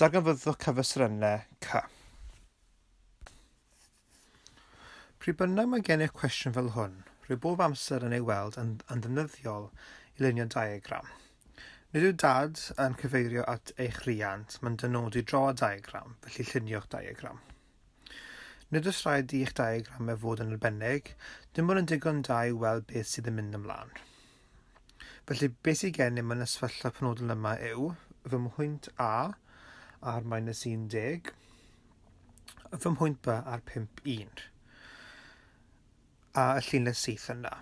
Darganfyddwch cyfestrynau cy. Pryd bynnag mae gennych cwestiwn fel hwn, rwy bob amser yn ei weld yn, yn ddefnyddiol i lunio diagram. Nid yw dad yn cyfeirio at eich rhiant, mae'n dynodi draw a diagram, felly llunio'ch diagram. Nid oes rhaid i eich diagramau fod yn arbennig, dim ond yn digon da i weld beth sydd yn mynd ymlaen. Felly, beth sydd gennym yn y sefyllfa penodol yma yw fy mhwynt A ar minus 10, fy mhwynt B ar 51, a y llinell syth yna.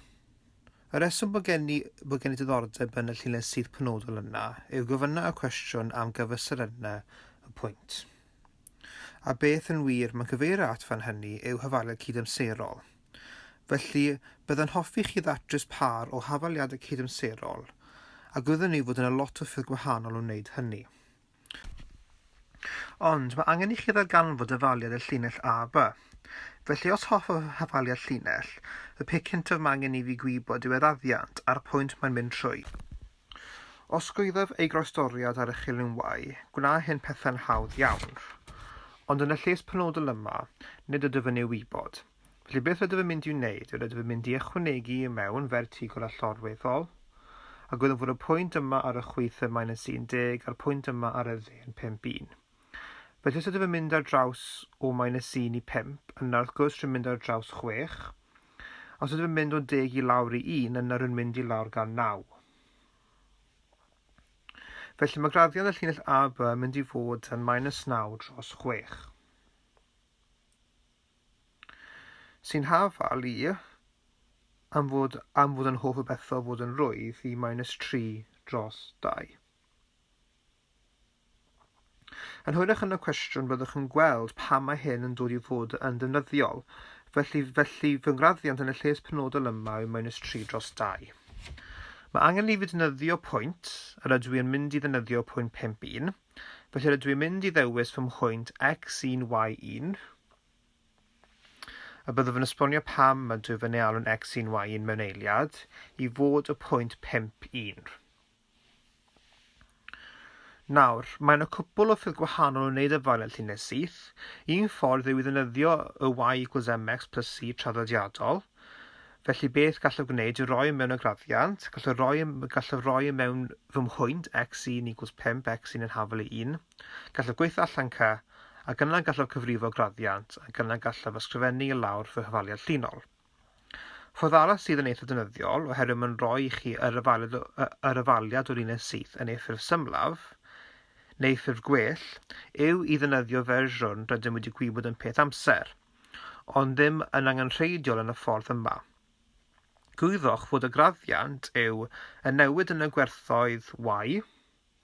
Y reswm bod gen i, bod gen i diddordeb yn y llinell syth penodol yna yw gofynna y cwestiwn am gyfystyr yna y pwynt. A beth yn wir mae'n cyfeirio at fan hynny yw hyfaledd cydamserol. Felly, bydda'n hoffi chi ddatrys pâr o hafaliadau cydamserol, a gwyddwn ni fod yna lot o ffyrdd gwahanol o wneud hynny. Ond mae angen i chi ddarganfod dyfaliad y llinell A, B. Felly os hoffaf hafaliad llinell, y peth cyntaf mae angen i fi gwybod yw yr addiant a'r pwynt mae'n mynd trwy. Osgoiaf ei groestoriad ar y chilynwau, gwna hyn pethau'n hawdd iawn. Ond yn y lles penodol yma, nid ydw yn ei wybod. Felly beth rydw i'n mynd i'w wneud yw rydw i'n mynd i ychwanegu i mewn fertigl allorweddol, a gwyddwn fod y pwynt yma ar y chwith y mae'n yn 10 a'r pwynt yma ar y dde yn 51. Felly os ydw i'n mynd ar draws o mae'n y 1 i 5, yna wrth gwrs rwy'n mynd ar draws 6, Os ydw i'n mynd o deg i lawr i un, yna rwy'n mynd i lawr gan naw. Felly mae graddion y llinell AB yn mynd i fod yn minus 9 dros 6. Sy'n hafal i, am fod, am fod yn hoff o bethau fod yn rwydd, i minus 3 dros 2. Yn hwyrach yn y cwestiwn byddwch yn gweld pam mae hyn yn dod i fod yn ddefnyddiol. Felly, felly fy ngraddiant yn y lles penodol yma yw minus 3 dros 2. Mae angen i fi ddefnyddio pwynt, yr ydw i yn mynd i ddefnyddio pwynt 5 1, felly rydw i'n mynd i ddewis fy mhwynt x1 y1, a byddaf yn esbonio pam mae dwy fy nealwn x1 y1 mewn eiliad, i fod y pwynt 5 1. Nawr, mae yna cwpwl o ffyrdd gwahanol o wneud y Violet Llinell Syth. Un ffordd yw i ddefnyddio y Y equals MX plus C traddodiadol. Felly beth gallaf gwneud yw roi mewn y graddiant, gallaf roi, gallaf roi mewn fy mhwynt x1 equals 5, x1 yn hafel i 1. Gallaf gweithio allan cy, ac yna gallaf cyfrifo graddiant, ac yna gallaf ysgrifennu i lawr fy hyfaliad llinol. Ffordd arall sydd yn eitha defnyddiol, oherwydd mae'n rhoi i chi yr yfaliad, yr yfaliad o linell syth yn ei ffurf symlaf, neu ffurf gwell, yw i ddefnyddio fersiwn rydym wedi gwybod yn peth amser, ond ddim yn angenrheidiol yn y ffordd yma. Gwyddoch fod y graddiant yw y newid yn y gwerthoedd Y,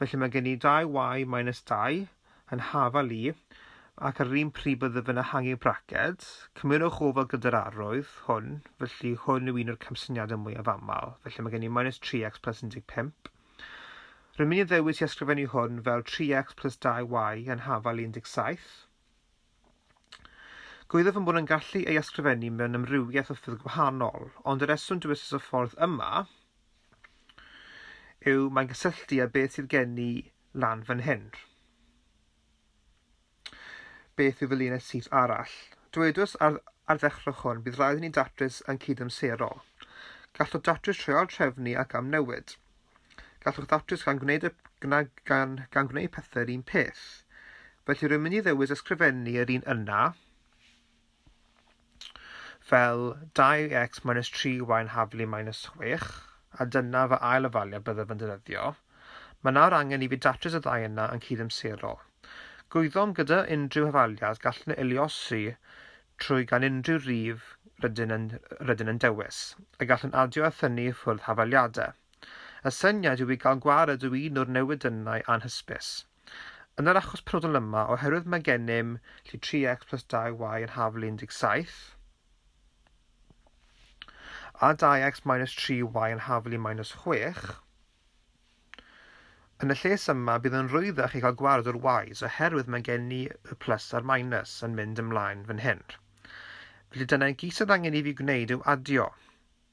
Felly mae gen i dau y minus dau yn hafal i, ac ar yr un pryd bydde fe'n ehangu braced. Cymerwch ofal gyda'r arwydd hwn, felly hwn yw un o'r camsyniadau mwyaf aml. Felly mae gen i minus 3x plus 15. Rwy'n mynd i ddewis i ysgrifennu hwn fel 3x plus 2y yn hafal i 17. Gwyddo fy mod yn gallu ei ysgrifennu mewn amrywiaeth o ffyrdd gwahanol, ond y reswm dywedus y ffordd yma yw mae'n cysylltu â beth sydd gen i lan fan hyn. Beth yw fy linell syth arall? Dwedws ar, ar ddechrau hwn, bydd rhaid i ni datrys yn cydamserol. Gallwch datrys trwy ail-trefnu ac amnewid. Gallwch ddatrys gan gwneud, y, gna, gan, gan gwneud pethau'r un peth. Felly rwy'n mynd i ddewis ysgrifennu yr un yna, fel 2x minus 3y yn haflu minus 6, a dyna fy ail ofaliad byddaf yn defnyddio. Mae nawr angen i fi datrys y ddau yna yn cydamserol. Gwyddom gyda unrhyw hafaliad gallwn ei luosi trwy gan unrhyw rif rydyn yn, rydyn yn dewis, y gallwn adio a thynnu i ffwrdd hafaliadau. Y syniad yw i gael gwared o un o'r newidynnau anhysbys. Yn yr achos penodol yma, oherwydd mae gennym llu 3x plus 2y yn haflu 17, a 2x minus 3y yn haflu minus 6, yn y lles yma bydd yn rwyddach i gael gwared o'r y's oherwydd mae gen ni y plus a'r minus yn mynd ymlaen fan hyn. Felly dyna i gyd sydd angen i fi gwneud yw adio.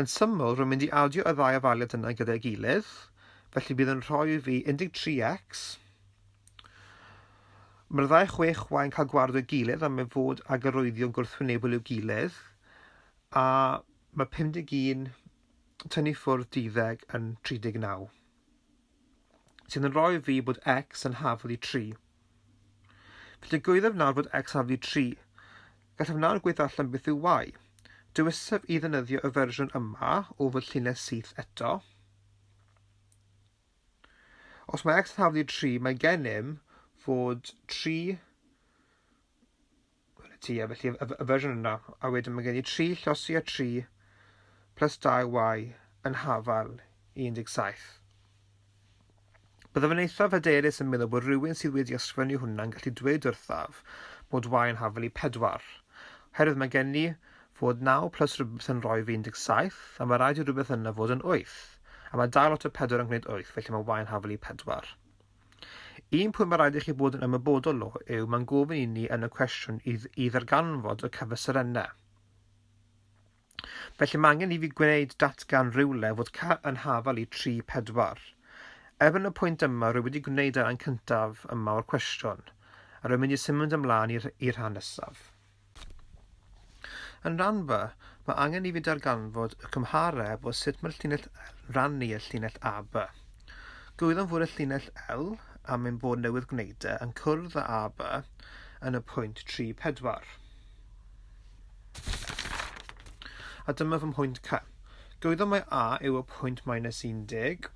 Yn syml, rwy'n mynd i adio y ddau afaliad yna gyda'i gilydd, felly bydd yn rhoi i fi 13x. Mae'r ddau chwech wain cael gwared o'i gilydd am ei fod ag arwyddion gwrthwynebol i'w gilydd, a mae 51 tynnu ffwrdd 12 yn 39. sydd yn rhoi fi bod x yn haflu 3. Fe digwyddaf nawr fod x haflu 3. Gallaf nawr gweithio allan beth yw y. Dewisaf i ddynyddio y fersiwn yma o fy llinell syth eto. Os mae x yn haflu 3, mae gennym fod 3 Gweled ti, a felly y, y fersiwn yna, a wedyn mae gen i 3 llosi a 3 plus 2y yn hafal 17. Byddaf yn eithaf hyderus yn meddwl bod rhywun sydd wedi ysgrifennu hwnna'n gallu dweud wrthaf bod y yn hafal i 4. Herwydd mae gen i fod 9 plus rhywbeth yn rhoi fi 17, a mae rhaid i rhywbeth yna fod yn 8. A mae dal lot o 4 yn gwneud 8, felly mae yn hafal i 4. Un pwynt mae rhaid i chi bod yn ymwybodol o yw mae'n gofyn i ni yn y cwestiwn i, i ddarganfod y cyfesurennau. Felly mae angen i fi gwneud datgan rhywle fod ca yn hafal i 3, 4. Erbyn y pwynt yma, rwy wedi gwneud y rhan cyntaf yma o'r cwestiwn, a rwy'n mynd i symud ymlaen i'r rhan nesaf. Yn Rhanfa, mae angen i fi darganfod y cymhareb o sut mae'r llinell L'n rhannu y llinell AB. Gwyddom fod y llinell L, am ein bod newydd gwneud e, yn cwrdd â AB yn y pwynt 3, 4. A dyma fy mhwynt C. Gwyddom mai A yw y pwynt minus 10,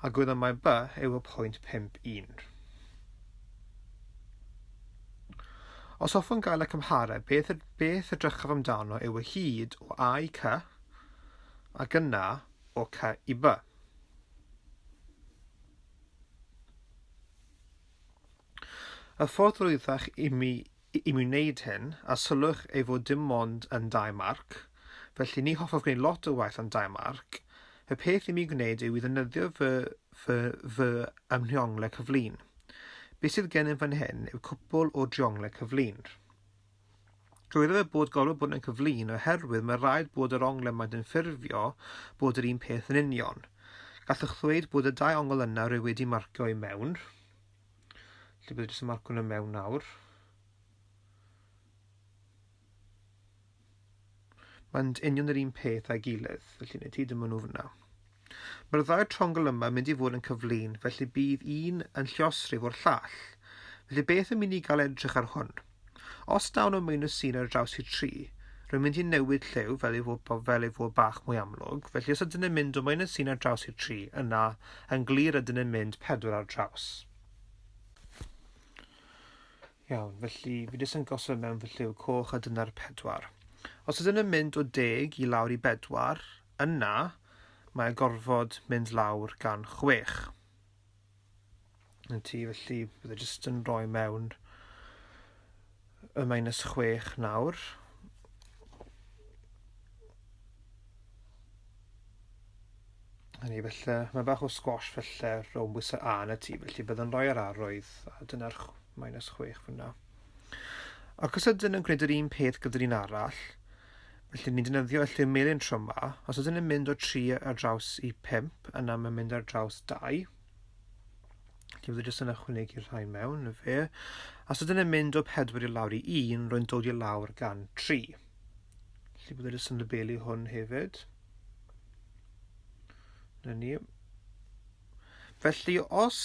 a gwyddom mai B yw y pwynt 5, 1. Os hoffwn gael y cymhareb, beth, beth y drychaf amdano yw y hyd o A i Cy, ac yna o Cy i By. Y ffordd drwyddach i mi, i mi wneud hyn, a sylwch ei fod dim ond yn dau marc, felly ni hoffaf gwneud lot o waith am dau marc, y peth i mi gwneud yw i ddynyddio fy, fy, fy ymhiongle cyflun. Be sydd gennym fan hyn yw cwpl o drionglau cyflun. Dweud fe bod gorfod bod yn cyflun oherwydd mae rhaid bod yr onglau maent yn ffurfio bod yr un peth yn union. Gallwch ddweud bod y dau ongl yna rwy wedi marcio i mewn. Lle bydd jyst yn marco nhw mewn nawr. Mae'n union yr un peth a'i gilydd, felly nid hyd yn mynd nhw fyna. Mae'r ddau trongl yma mynd i fod yn cyflun, felly bydd un yn lliosrif o'r llall. Felly beth yn mynd i gael edrych ar hwn? Os dawn o minus un ar draws i tri, rwy'n mynd i newid lliw fel ei fod, fel ei fod bach mwy amlwg, felly os ydyn yn mynd o minus un ar draws i tri, yna yn glir ydyn yn mynd pedwar ar draws. Iawn, felly fi jyst yn gosod mewn fy lliw coch a dyna'r pedwar. Os ydyn nhw'n mynd o deg i lawr i bedwar, yna mae gorfod mynd lawr gan chwech. Yn ti, felly bydde jyst yn rhoi mewn y minus chwech nawr. Hynny felly, mae bach o squash felly rhwng bwysau A na T, felly bydd yn rhoi yr arwydd, a dyna'r minus 6 fyna. Ac os ydyn yn gwneud yr un peth gyda'r un arall, felly ni'n defnyddio allu melin tro yma, os ydyn yn mynd o 3 ar draws i 5, yna mae'n mynd ar draws 2, Felly bydd jyst yn ychwanegu rhain mewn, y fe. Os ydyn yn mynd o 4 i lawr i 1, rwy'n dod i lawr gan 3. Felly bydd e jyst yn labelu hwn hefyd. Na ni. Felly os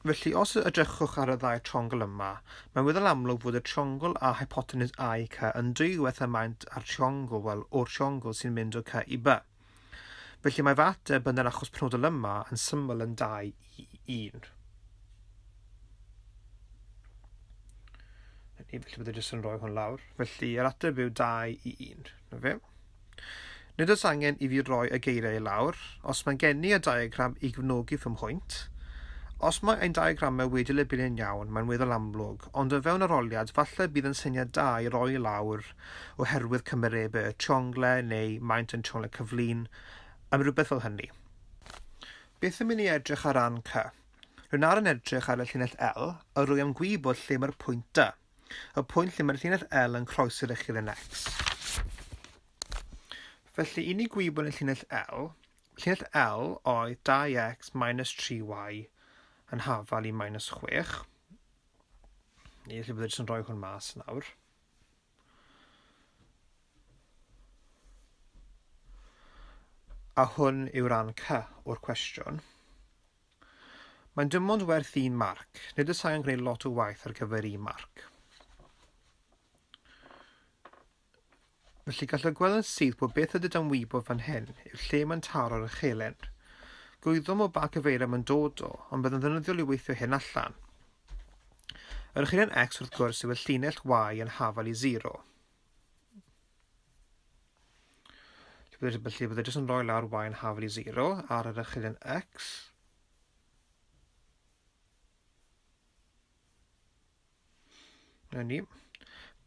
Felly, os edrychwch ar y ddau triongl yma, mae'n weddol amlwg fod y triongl a hypotenus A i C yn dwywaith y maint a'r triongl, wel, o'r triongl sy'n mynd o C i B. Felly mae fy ateb yn yr achos penodol yma yn syml yn 2 i 1. Felly, felly byddai jyst yn rhoi hwn lawr. Felly, yr ateb yw 2 i 1. Na fe? Nid oes angen i fi roi y geiriau lawr. Os mae'n gen i y diagram i gyfnogi fy mhwynt, os mae ein diagramau wedi lebunu'n iawn, mae'n weddol amlwg, ond o fewn yr oliad, falle bydd yn syniad da i roi lawr oherwydd cymerebe y siongle neu maint yn siongle cyflun, am rywbeth fel hynny. Beth yn mynd i edrych ar ran C? Rwy'n ar yn edrych ar y llinell L a rwy am gwybod lle mae'r pwynt D, y pwynt lle mae'r llinell L yn croes i'r echilyn X. Felly, i ni gwybod y llinell L, llinell L oedd 2x minus 3y yn hafal i minus 6. Neu lle bydd yn rhoi hwn mas nawr. A hwn yw ran C o'r cwestiwn. Mae'n dim ond werth un marc. Nid y sain yn gwneud lot o waith ar gyfer un marc. Felly gallwch gweld yn syth bod beth ydy dan wybod fan hyn yw'r lle mae'n taro ar y chelyn. Gwyddom o ba cyfeiriad mae'n dod o, ond bydd yn ddefnyddiol i weithio hyn allan. Yr ychydig x wrth gwrs yw y llinell y yn hafal i 0. Felly byddai jyst yn rhoi lawr y yn hafal i 0 ar yr ychydig x. Na ni.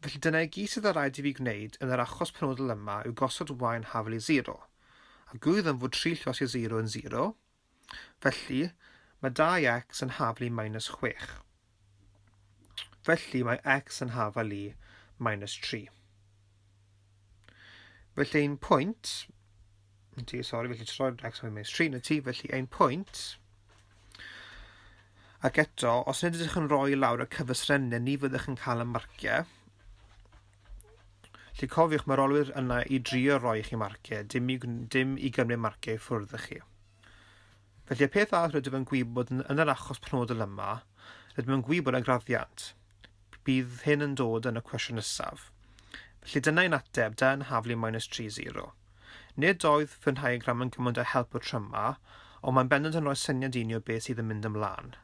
Felly dyna i gyd sydd ar rhaid i fi gwneud yn yr achos penodol yma yw gosod yn hafal i 0. A gwyddom fod 3 llos i 0 yn 0, Felly, mae 2x yn hafal i minus 6. Felly, mae x yn hafal i minus 3. Felly, ein pwynt... Ti, sori, felly troi'r x yn minus 3 na ti, felly ein pwynt... Ac eto, os nid ydych yn rhoi lawr y cyfysrennau, ni fyddwch yn cael y marciau. Felly cofiwch, mae'r olwyr yna i drio roi chi marciau, dim i, dim i gymryd marciau ffwrdd y chi. Felly y peth arall rydym yn gwybod yn, yn yr achos penodol yma, rydym yn gwybod y graddiant. Bydd hyn yn dod yn y cwestiwn nesaf. Felly dyna ein ateb, da yn haflu minus 3-0. Nid oedd fy nhaiagram yn gymaint o help o tryma, ond mae'n bendant yn rhoi syniad i ni o beth sydd yn mynd ymlaen.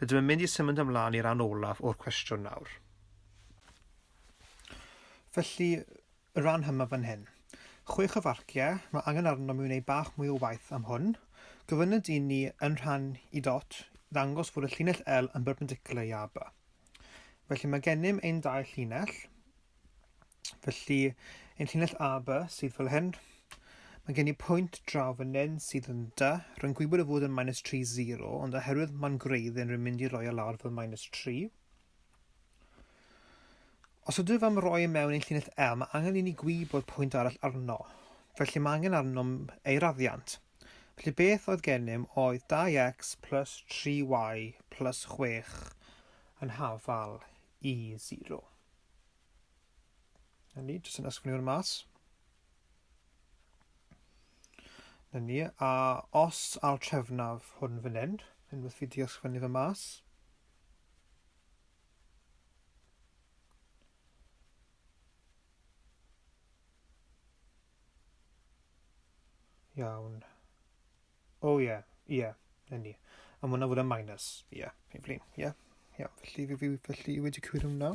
Rydym yn mynd i symud ymlaen i'r rhan olaf o'r cwestiwn nawr. Felly, y rhan yma fan hyn. Chwech o farciau, mae angen arnom i wneud bach mwy o waith am hwn. Gofynna dyn ni yn rhan i dot ddangos fod y llinell L yn berpendicular i AB. Felly mae gennym ein dau llinell. Felly, ein llinell AB sydd fel hyn. Mae gen i pwynt draw fan hyn sydd yn dy. Rwy'n gwybod y fod yn minus 3, 0, ond oherwydd mae'n gwreidd yn rwy'n mynd i roi o lawr fel minus 3. Os ydw am roi e mewn ein llinell L, mae angen i ni gwybod pwynt arall arno, felly mae angen arnom ei raddiant. Felly beth oedd gennym oedd 2x plus 3y plus 6 yn hafal i 0. Na ni, jyst yn ysgrifennu hwn mas. Na ni, a os al trefnaf hwn fan hyn, unwaith fi di ysgrifennu fe mas, Iawn. O ie, ie, yn ni. A mwna fod yn minus. Ie, yeah, Evelyn, ie. Yeah. Iawn, felly, felly, felly wedi cywir hwnna.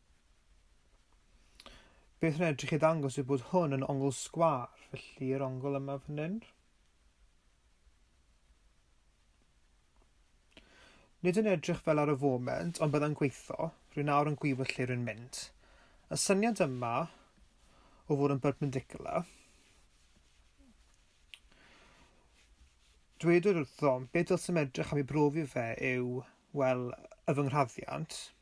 Beth yn edrych i ddangos yw bod hwn yn ongl sgwâr, felly yr ongl yma fan hyn. Nid yn edrych fel ar y foment, ond byddai'n gweithio, rwy'n nawr yn gwybod lle rwy'n mynd. Y syniad yma o fod yn perpendicular, dwedwyd wrthom, beth dylsem edrych am ei brofi fe yw, wel, y fy nghraddiant,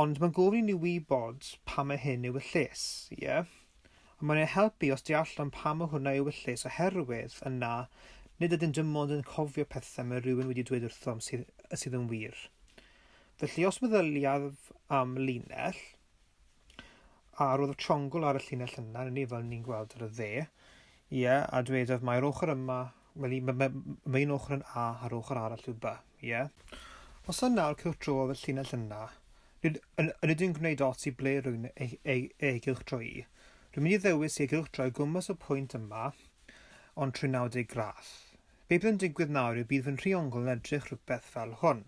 Ond mae'n gofyn i ni wybod pam mae hyn ewyllys, ie? A mae'n ei helpu os deallwn pam mae hwnna ewyllys oherwydd yna nid ydym dim ond yn cofio pethau mae rhywun wedi dweud wrthom sydd, sydd yn wir. Felly os meddyliaf am linell, A roedd y triongl ar y llinell yna, yn ni fel ni'n gweld ar y dde. Ie, a dwedodd mae'r ochr yma, wel i, mae, mae un ochr yn A a'r ochr arall yw B. Ie. Os yna nawr cylch dro y llinell yna, nid, yn, yn ydyn gwneud ots i ble rwy'n ei, ei, ei gylch dro i. Rwy'n mynd i ddewis ei gylch droi gwmpas y pwynt yma, ond trwy 90 gradd. Be bydd yn digwydd nawr yw bydd fy nhriongl yn edrych rhywbeth fel hwn.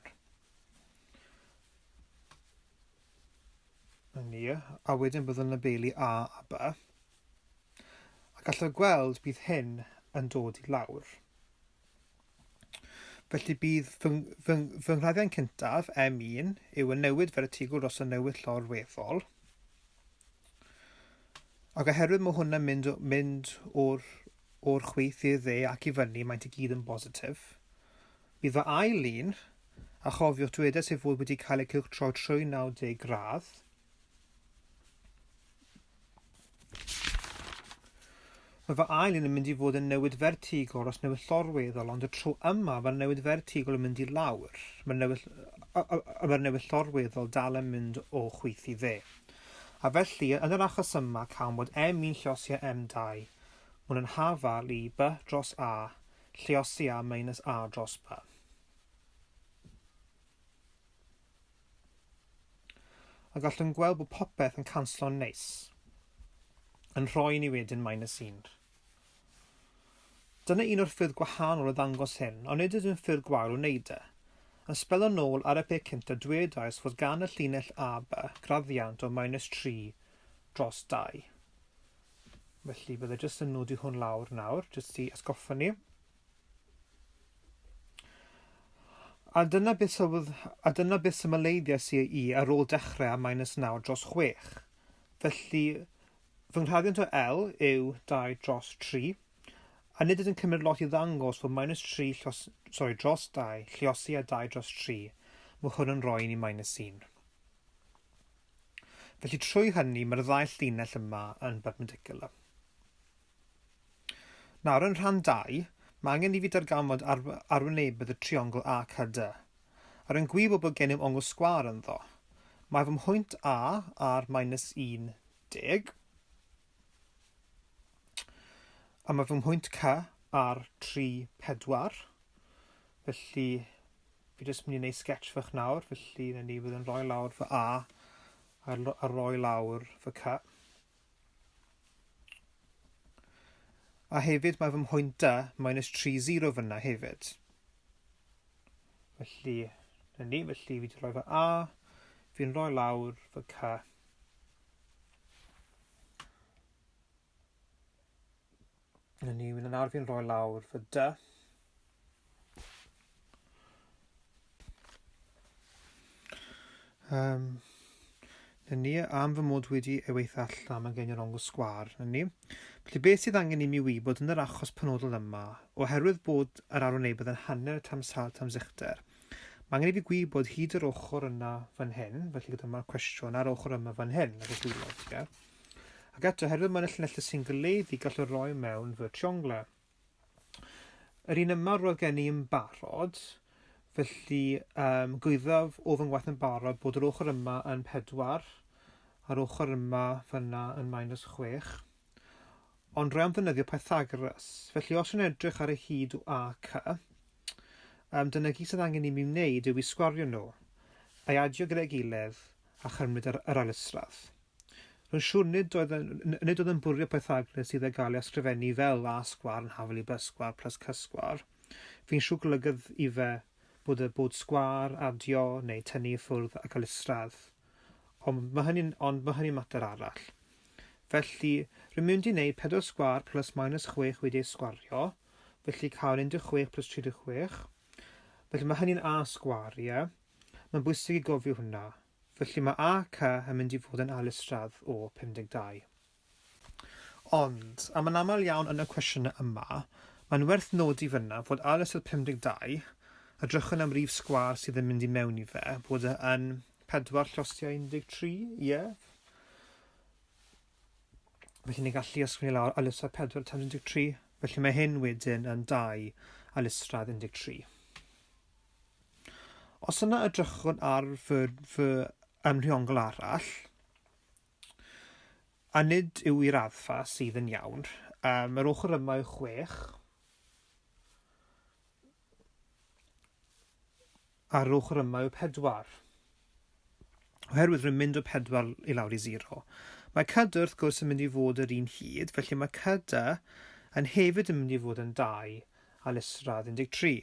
Na ni. A wedyn bydd yn labelu A a B. A gallwch gweld bydd hyn yn dod i lawr. Felly bydd fy, fy, fy nghladdiau'n cyntaf, M1, yw yn newid fertigl dros y newid llorweddol. Ac oherwydd mae hwnna'n mynd, mynd o'r O'r chwith i'r dde ac i fyny, maent i gyd yn bositif. Bydd fy ail lun, a chofiwch dywedais ei fod wedi cael ei cylchtroi trwy 90 gradd, Mae fy ail un yn mynd i fod yn newid fertigol os newid llorweddol, ond y tro yma mae'r newid fertigol yn mynd i lawr. Mae'r newid, mae newid llorweddol dal yn mynd o chwith i dde. A felly, yn yr achos yma, cawn bod M1 llosi a M2, Hwn yn hafal i by dros a, lluosi a minus a dros by. A gallwn gweld bod popeth yn canslo'n neis, yn rhoi ni wedyn minus 1. Dyna un o'r ffyrdd gwahanol o ddangos hyn, ond nid ydyn ffyrdd gwael o wneud e. Yn sbelo nôl ar y peth cyntaf dwedais fod gan y llinell a by graddiant o minus 3 dros dau. Felly bydde jyst yn nodi hwn lawr nawr, jyst i atgoffa ni. A dyna beth sylwodd, a dyna beth symleiddiais i i ar ôl dechrau â minus 9 dros 6. Felly, fy nghraddiant o L yw 2 dros 3, a nid ydyn cymryd lot i ddangos fod minus 3 llos, sorry, dros 2 lliosi a 2 dros 3. Mae hwn yn rhoi ni minus 1. Felly trwy hynny mae'r ddau llinell yma yn berpendicular. Nawr yn rhan 2, mae angen i fi darganfod ar arwynebedd y triongl ACD. Ar yn gwybod bod gennym ongl sgwâr ynddo. Mae fy mhwynt A ar minus 10 A mae fy mhwynt ca ar tri pedwar. Felly, fi jyst mynd i wneud sketch fach nawr, felly na ni fydd yn rhoi lawr fy A a, a rhoi lawr fy ca. A hefyd mae fy mhwynt da minus 3, 0 fyna hefyd. Felly, na ni, felly fi wedi rhoi fy A, fi'n rhoi lawr fy ca. Yn ni, yn nawr fi'n rhoi lawr fy dy. Um, yn ni, am fy mod wedi ei weithio allan, mae'n gen i'r ongl sgwar, yn ni. Felly beth sydd angen i mi wybod yn yr achos penodol yma, oherwydd bod yr arwynebedd yn hanner tamsal tamsicder, Mae angen i fi gwybod hyd yr ochr yna fan hyn, felly gyda mae'r cwestiwn ar ochr yma fan hyn, ar y gwylod, ie? Ac eto, herwydd mae'n y llinellau sy'n goleuddu, gallwn roi mewn fy trionglau. Yr un yma roedd gen i yn barod, felly um, gwyddaf o fy ngwaith yn barod bod yr ochr yma yn 4, a'r ochr yma fyna yn minus 6. Ond rhaid ddefnyddio Pythagoras. Felly os yw'n edrych ar y hyd o ac, um, dyna gyd sydd angen i mi wneud yw i sgwario nhw, a'i adio gyda'i gilydd a chymryd yr, yr ailysradd. Rwy'n siŵr nid oedd, nid oedd yn bwrio Pythagoras sydd ag gael ei ysgrifennu fel a sgwar yn hafel i bysgwar plus cysgwar. Fi'n siŵr golygydd i fe bod y bod sgwar, adio neu tynnu i ffwrdd ac ailysradd. Ond mae hynny'n ond mae hynny'n mater arall. Felly, rwy'n mynd i wneud pedwar sgwâr plus minus chwech wedi ei sgwario, felly cael 16 plus 36. Felly mae hynny'n a sgwâr, ie? Mae'n bwysig i gofio hwnna. Felly mae ac yn mynd i fod yn alistradd o 52. Ond, am yn aml iawn yn y cwestiynau yma, mae'n werth nodi fan'na fod ar y sil 52, a drychwn am rif sgwâr sydd yn mynd i mewn i fe, bod e yn pedwar llosgiau 13, ie? Felly ni'n gallu ysgrifennu lawr alyssrad 4 times 13, felly mae hyn wedyn yn 2 alyssrad 13. Os yna y drychwn ar fy, fy ymrhiongl arall, A nid yw y raddfa sydd yn iawn am yr ochr yma yw chwech, ar yr ochr yma yw pedwar. Oherwydd rwy'n mynd o pedwar i lawr i zero. Mae cyda wrth gwrs yn mynd i fod yr un hyd, felly mae cyda yn hefyd yn mynd i fod yn dau a lesradd 13.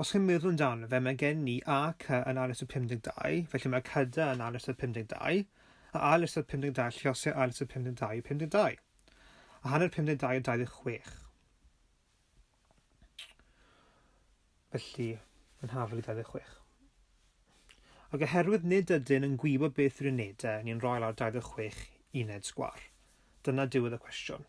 Os chi'n meddwl amdano fe, mae gen ni A, C yn ail ystod 52, felly mae cyda yn ail ystod 52, a ail ystod 52 lliosiau ail ystod 52 yw 52, a hanner 52 yw 26. Felly, yn hafel i 26. Ac oherwydd nid ydyn yn gwybod beth yw'r unedau, ni'n rhoi lawr 26 uned sgwar. Dyna diwedd y cwestiwn.